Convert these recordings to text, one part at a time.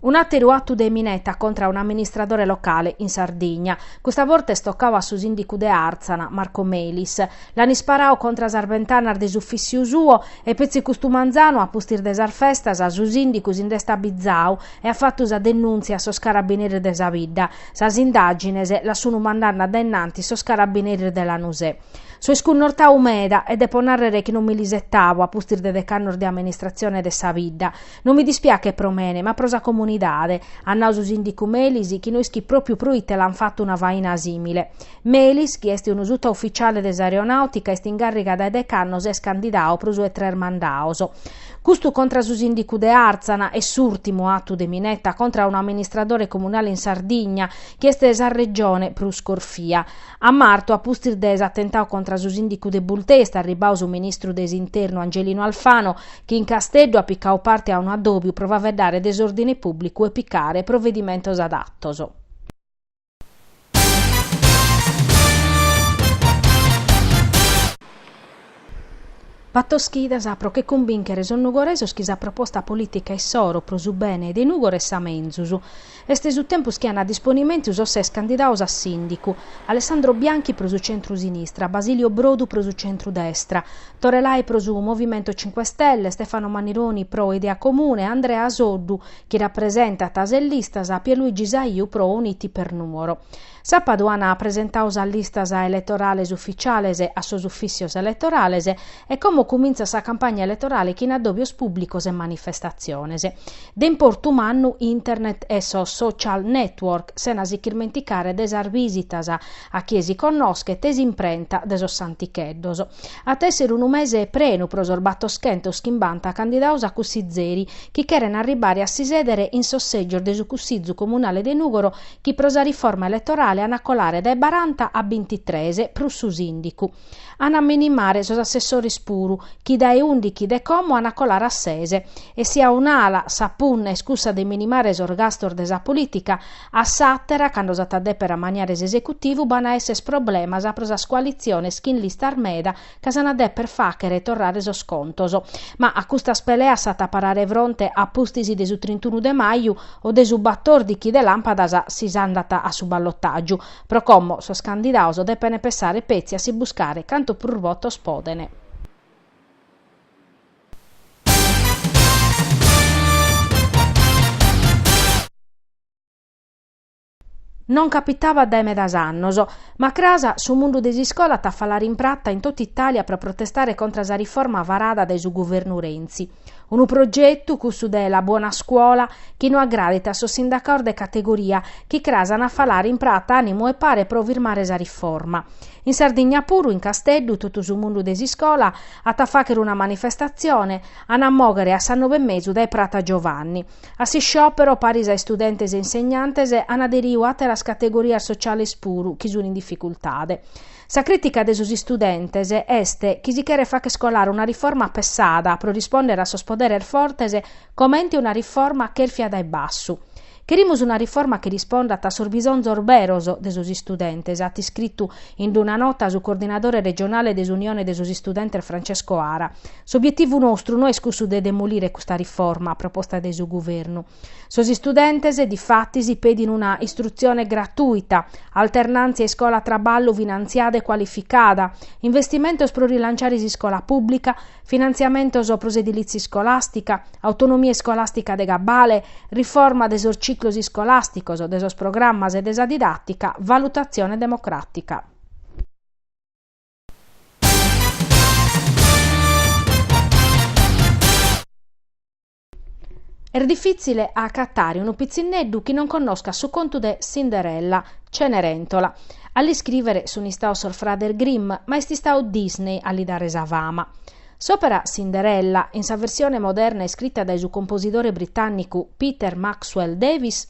Un'àteru atu de mineta contra a un'amministradore locale in Sardigna. Custa borta est tocadu a su sìndicu de Àrtzana, Marco Melis. L'ant isparadu contra sas bentanas de s'ufìssiu suo e petzi custu manzanu, a pustis de sas festas, su sìndicu si nd'est abizadu e at fatu sa denùntzia a sos carabineris de sa bidda. Sas indàgines las sunt mandende a dae innantis sos carabineris de Lanusè. So iscunnortadu meda e depo nàrrere chi non mi l'isetabo a pustis de deghe annos de amministratzione de sa bidda. No mi dispiachet pro mene, ma pro sa comunidade, at nadu su sìndicu Melis chi no ischit pròpiu proite l'ant fatu una faina sìmile. Melis, chi est unu sutaufitziale de s'aeronàutica, est in càrriga dae deghe annos e est candidadu pro su 'e tres mandados. Custu contra su sìndicu de Àrtzana est s'ùrtimu atu de mineta contra unu amministradore comunale in Sardigna, chi est sa regione prus corfia. A martu, a pustis de s'atentau contra su sìndicu de Bultei, est arribau su ministru de s'Internu Angelino Alfano, chi in Casteddu at picau parte a unu addòbiu pro faeddare de s'òrdine pùblicu e picare provedimentos adatos. Bator chidas pro che cumbìnchere sos nugoresos chi sa proposta polìtica issoro, pro su bene de Nùgoro est sa menzus, est su tempus chi an a disponimentu sos ses candidados a sìndicu, Alessandro Bianchi pro su centru-sinistra, Basilio Brodu pro su centru-destra, Tore Lai pro su Movimento Cinque Stelle, Stefano Mannironi pro Idea Comune, Andrea Soddu, chi rapresentat ses listas, Pierluigi Saiu pro Uniti per Nuoro. Sàpadu an presentadu sas listas eletorales ufficiales a sos uffissios eletorales e como cumintzat sa campagna eletorale chin addòbios pùblicos e manifestatziones de importu mannu, internet e sos social network, sena si ch'irmenticare de sas visitas a chie si connoschet e s'imprenta de sos santicheddos. At a èssere unu mese prenu pro sos battoschentos chimbanta candidados a cussizeri chi cheren arribare a si sèdere in sos sègios de su Cussizu Comunale de Nùgoro chi pro sa riforma eletorale an a colare dae baranta a bintitres prus su sìndicu. An a minimare sos assessores puru, chi dae ùndighi de como an a colare a ses. E si a un'ala sa punna est cussa de minimare sos gastos de sa polìtica, a s'àtera, cando s'at a dèpere amaniare s'esecutivu, b'an a èssere problemas pro sas coalitziones chin listas meda ca s'an a dèpere fàghere torrare sos contos. Ma a custas peleas s'at a parare fronte a pustis de su trintunu de maju o de su batòrdighi de làmpadas si s'andat a su ballotàgiu. Pro como, sos candidados depene pessare petzi a si buscare cantu prus votos podene. Non capitabat dae medas annos. Ma cras su mundu de s'iscola at a falare in prata in totu Itàlia pro protestare contra sa riforma varada dae su guvernu Renzi. Unu progetu, cussu de La Buona Scuola, chi no agradet a sos sindacaos de categoria, chi cras an a falare in prata ànimu e pare pro firmare sa riforma. In Sardigna puru, in Casteddu, totu su mundu de s'iscola at a fàghere una manifestatzione, an a mòghere a sa nobe e mesu dae Prata Giovanni. A s'isciòpero, paris a istudentes e insegnantes, an aderiu àteras categorias sociales puru chi sun in dificultade. Sa crìtica de sos istudentes est chi si cheret fagher colare una riforma pessada pro rispòndere a sos poderes fortes comente una riforma chèrfia dae bassu. Cherimus una riforma chi rispondat a sos bisonzos beros de sos istudentes, at iscritu in una nota su coordinadore regionale de s'Unione de sos Istudentes Francesco Ara, S'obietivu nostru no est cussu de demolire custa riforma proposta de su Guvernu. Sos istudentes, difatis, pedin una istrutzione gratuita, alternàntzia iscola-traballu finantziada e cualificada, investimentos pro rilanciare s'iscola pùblica, finantziamentos pro s'edilìtzia iscolàstica, autonomia iscolàstica de cabale, riforma de sos ciclos iscolàsticos, de sos programmas e de sa didàtica, valutatzione democràtica. Est difìtzile a acatare unu pitzinneddu chi non connoscat su contu de Cinderella, Cenerentola. A l'iscrìvere sunt istaos sos frades Grimm, ma est istau Disney a li dare sa fama. S'òpera Cinderella, in sa versione moderna iscrita dae su composidore britànnicu Peter Maxwell Davies,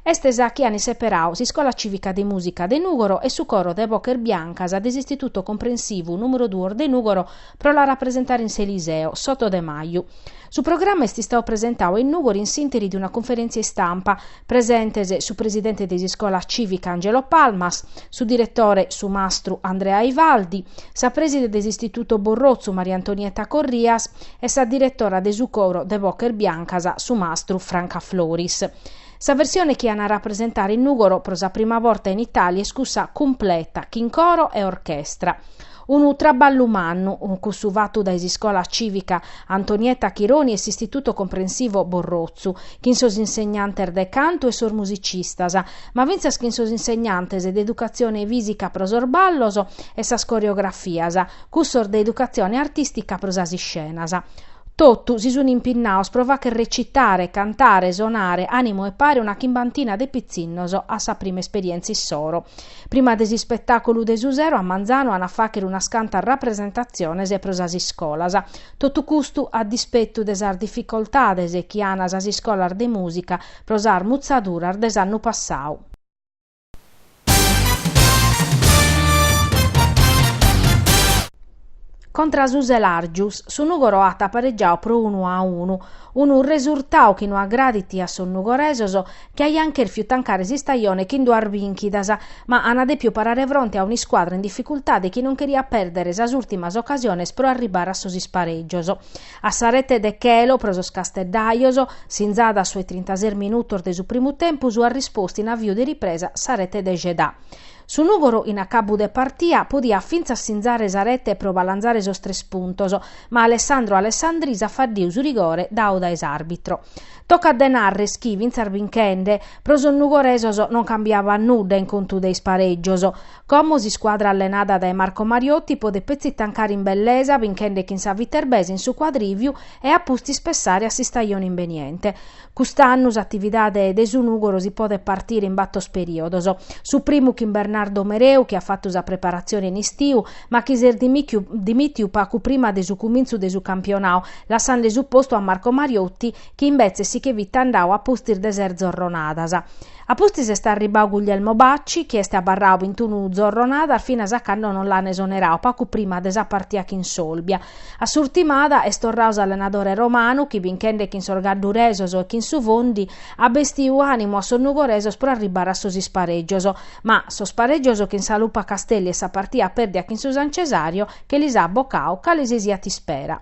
est sa chi ant seperau s'Iscola Cìvica de Mùsica de Nùgoro e su coro de boches biancas de s'Istituto Comprensivu nùmero duos de Nùgoro pro la rapresentare in s'Eliseo, s'oto de maju. Su programma est istau presentau in Nùgoro in s'ìnteri de una conferèntzia istampa, Presentes su presidente de s'Iscola Cìvica Angelo Palmas, su diretore su mastru Andrea Ivaldi, sa prèside de s'Istituto Borrotzu Maria Antonietta Corrias e sa diretora de su coro de Boches Biancas su mastru Franca Floris. Sa versione chi an a rapresentare in Nùgoro pro sa prima borta in Itàlia est cussa cumpleta, chin coro e orchestra. Unu traballu mannu, cussu fatu dae s'Iscola Cìvica Antonietta Chironi e s'Istituto Comprensivo Borrotzu, chin sos insegnantes de cantu e sos musicistas, ma fintzas chin sos insegnantes de educatzione fìsica pro sos ballos e sas coreografias, cussos de educatzione artìstica pro sas iscenas. Totu si sunt impinnaos pro fàghere recitare, cantare, sonare, ànimo e pare una chimbantina de pitzinnos a sa prima esperièntzia issoro. Prima de s'ispetàculu de su sero a manzanu ant a fàchere unas cantas rapresentatziones pro sas iscolas. Totu custu a dispetu de sas dificoltades chi an sas iscolas de mùsica pro sas mutzaduras de s'annu passadu. Contra su Selàrgius, su Nùgoro at paregiadu pro unu a unu. Unu resurtadu chi no agradit a sos nugoresos chi aiant chèrfiu tancare s'istajone chin duas bìnchidas, ma ana dèpiu parare fronte a un'iscuadra in dificultade chi non cheriat pèrdere sas ùrtimas ocasiones pro arribbare a sos isparègios. A sa rete de Chelo pro sos casteddajos, sinzada a sos trintases minutos de su primu tempus at rispostu in aviu de ripresa sa rete de Gedà. Su Nùgoro in acabu de partia podiat fintzas sinzare sa rete pro balanzare sos tres puntos, ma Alessandro Alessandris at faddiu su rigore dadu dae s'àrbitro. Tocat de nàrrere chi, fintzas binchende, pro sos nugoresos non cambiabat nudda in contu de isparègios. Como s'iscuadra allenada dae Marco Mariotti podet petzi tancare in bellesa binchende chin sa Viterbese in su cuadrìviu e a pustis pensare a s'istajone imbeniente, Cust'annu s'atividade de su Nùgoro si podet partire in batos perìodos. Su primu chin Bernardo Mereu chi at fatu sa preparatzione in istiu, ma chi s'est dimìtiu pagu prima de su cumintzu de su campionadu, lassande su postu a Marco Mariotti chi imbetzes si che fit andadu a pustis de ses zorronadas. A pustis est arribadu Guglielmo Bacci chi est abarradu bintunu zorronadas finas a cando non l'an esoneradu pagu prima de sa partia chin s'Olbia. A s'urtimada est torradu s'allenadore romanu chi binchende chin sos gadduresos e chin su Fondi at bestiu ànimu a sos nugoresos pro arribbare a sos isparègios, ma sos parègios chin sa Lupa Castelli e sa partia pèrdia chin su San Cesario che lis at bocadu cale si siat ispera.